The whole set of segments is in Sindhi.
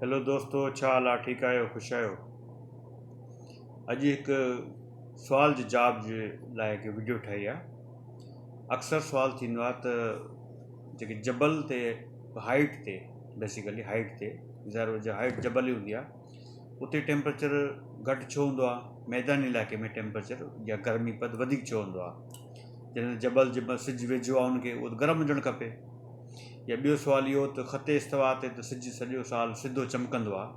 هيلو دوستو ڇا حال آ ٺيڪ آهيو خوش آهيو اڄ هڪ سوال جي جواب جي لاء هڪ ويڊيو ٺاهي آ اڪثر سوال ٿيندو آ ته جيڪي جبل تي هائيٽ تي بيسيڪلي هائيٽ تي ظاهر هو جو هائيٽ جبل ئي هوندي آ اتي ٽيمپريچر گهٽ ڇو هوندو آ ميداني علائقي ۾ ٽيمپريچر يا گرمي پد وڌيڪ ڇو هوندو آ جنهن جبل جي سج ويجهو آ ان کي گرم هجڻ کپي يا ٻيو سوال اهو ته خط استوا تي ته سج سڄو سال سڌو چمڪندو آهي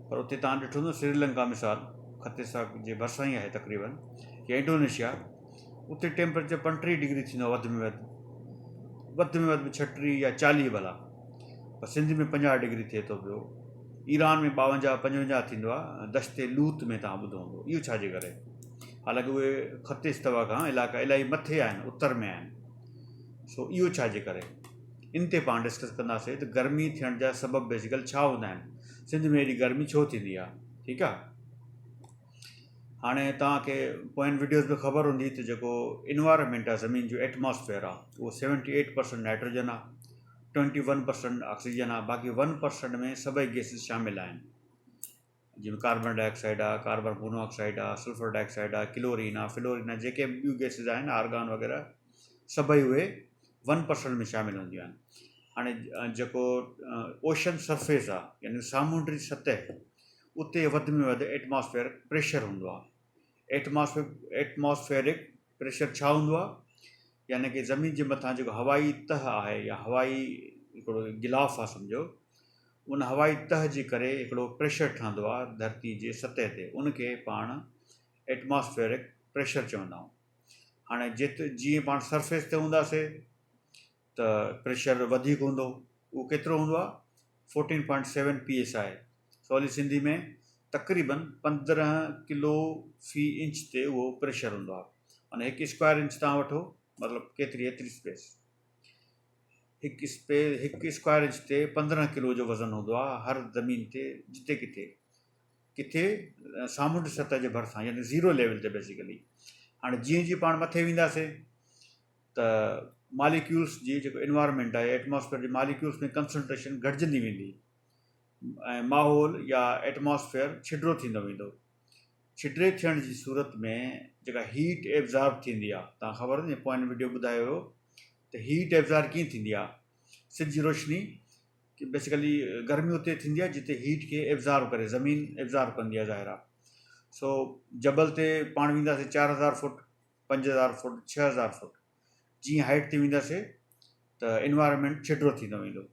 پر اتي توهان ڏٺو نه سريلنڪا مثال خط استوا جي ڀرسان ئي آهي تقريبن يا انڊونيشيا اتي ٽيمپريچر پنٽيهه ڊگري ٿيندو آهي وڌ ۾ وڌ وڌ ۾ وڌ به ڇٽيهه يا چاليهه ڀلا پر سنڌ ۾ پنجاهه ڊگري ٿئي ٿو پيو ايران ۾ ٻاونجاهه پنجونجاهه ٿيندو آهي دشت لوط ۾ توهان ٻڌو هوندو اهو ڇا جي ڪري حالانڪه اهي خط استوا کان علائقا الاهي مٿي آهن اتر ۾ آهن سو اهو ڇا جي ڪري ان تي پاڻ ڊسڪس ڪنداسي ته گرمي ٿيڻ جا سبب بيسيڪل ڇا هوندا آهن سنڌ ۾ ايڏي گرمي ڇو ٿيندي آهي ٺيڪ آهي هاڻي توهان کي پوين ويڊيوز ۾ خبر هوندي ته جيڪو انوائرمنٽ آهي زمين جو ايٽماسفيئر آهي اهو سيونٽي ايٽ پرسنٽ نائٽروجن آهي ٽوينٽي ون پرسنٽ آڪسيجن آهي باقي ون پرسنٽ ۾ سڀئي گيسز شامل آهن جيئن ڪاربن ڊاء آڪسائيڊ آ، ڪاربن مونو آڪسائيڊ آ، سلفر ڊاء آڪسائيڊ آ، ڪلورين آ، فلورين آ جيڪي به ٻيون گئسز آهن آرگان وغيره سڀئي اهي ون پرسنٽ ۾ شامل هونديون آهن. هاڻي جيڪو اوشن سرفيس آ يعني سامونڊي سطح اتي وڌ ۾ وڌ ايٽماسفيئر پريشر هوندو آ ايٽماسفيئر ايٽماسفيئرڪ پريشر ڇا هوندو آهي؟ يعني ڪه زمين جي مٿان جيڪو هوائي تهه آهي يا هوائي هڪڙو غلاف آهي سمجهو ان هوائي تهه جي ڪري هڪڙو پريشر ٺهندو آهي ڌرتي جي سطح تي ان کي پاڻ ائٽماسفيرڪ پريشر چوندا آهيون هاڻي جت جيئن پاڻ سرفيس تي هونداسي ته پريشر وڌيڪ هوندو اهو ڪيترو هوندو آهي fourteen point seven P S I سولي سنڌي ۾ تقريبن پندرهن ڪلو في انچ تي اهو پريشر هوندو آهي معنی هڪ اسڪوائر انچ تان وٺو مطلب ڪيتري ايتري اسپيس هڪ اسپي هڪ اسڪوائر انچ تي پندرهن ڪلو جو وزن هوندو آهي هر زمين تي جتي ڪٿي ڪٿي سامونڊ سطح جي ڀرسان يعنی زيرو ليول تي بيسيڪلي هاڻي جيئن جيئن پاڻ مٿي وينداسين ته ماليڪيولز جي جيڪو انوائرمينٽ آهي ايٽماسفيئر جي ماليڪيولز ۾ ڪنسنٽريشن گهٽجندي ويندي ۽ ماحول يا ايٽماسفيئر ڇڊرو ٿيندو ويندو ڇڊري ٿيڻ جي صورت ۾ جيڪا هيٽ ايبزارب ٿيندي آهي تان خبر نه پوائنٽ وڊيو ٻڌايو هيو ته هيٽ ايبزار ڪيئن ٿيندي آهي سج جي روشني ڪي بيسيڪلي گرمي اتي ٿيندي آهي جتي هيٽ کي ايبزارب ڪري زمين ايبزارب ڪندي آهي ظاهر آهي سو جبل تي پاڻ وينداسي چار هزار فوٽ پنج هزار فوٽ ڇهه هزار فوٽ جيئن هائيٽ تي وينداسي ته انوائرمينٽ ڇٽڙو ٿيندو ويندو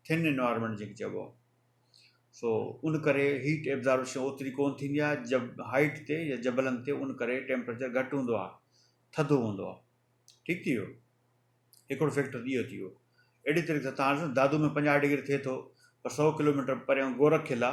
ٿن انوائرمينٽ جيڪي چئبو آهي سو ان ڪري هيٽ ابزاربشن اوتري ڪون ٿيندي آهي جب هائيٽ تي يا جبلن تي ان ڪري ٽيمپريچر گهٽ هوندو آهي ٿڌو هوندو آهي ٺيڪ ٿي ويو هڪڙو فيڪٽر اهو ٿي ويو اهڙي طريقي سان تان دادو ۾ پنجاهه ڊگري ٿئي ٿو پر سؤ ڪلوميٽر پريان گورک قلعا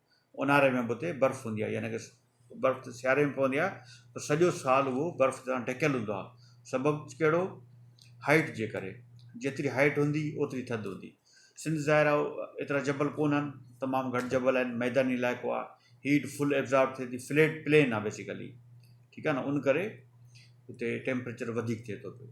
اونهاري ۾ به اتي برف هوندي آهي يعني برف ته سياري ۾ پوندي آهي پر سڄو سال اهو برف سان ڍڪيل هوندو آهي سبب ڪهڙو هائيٽ جي ڪري جيتري هائيٽ هوندي اوتري ٿڌ هوندي سنڌ ظاهر آهي ايترا جبل ڪونهن تمام گهٽ جبل آهن ميداني علائقو آهي هيٽ فل ابزارب ٿئي ٿي فليٽ پلين آهي بيسيڪلي ٺيڪ آهي نه ان ڪري اتي ٽيمپريچر وڌيڪ ٿئي ٿو پيو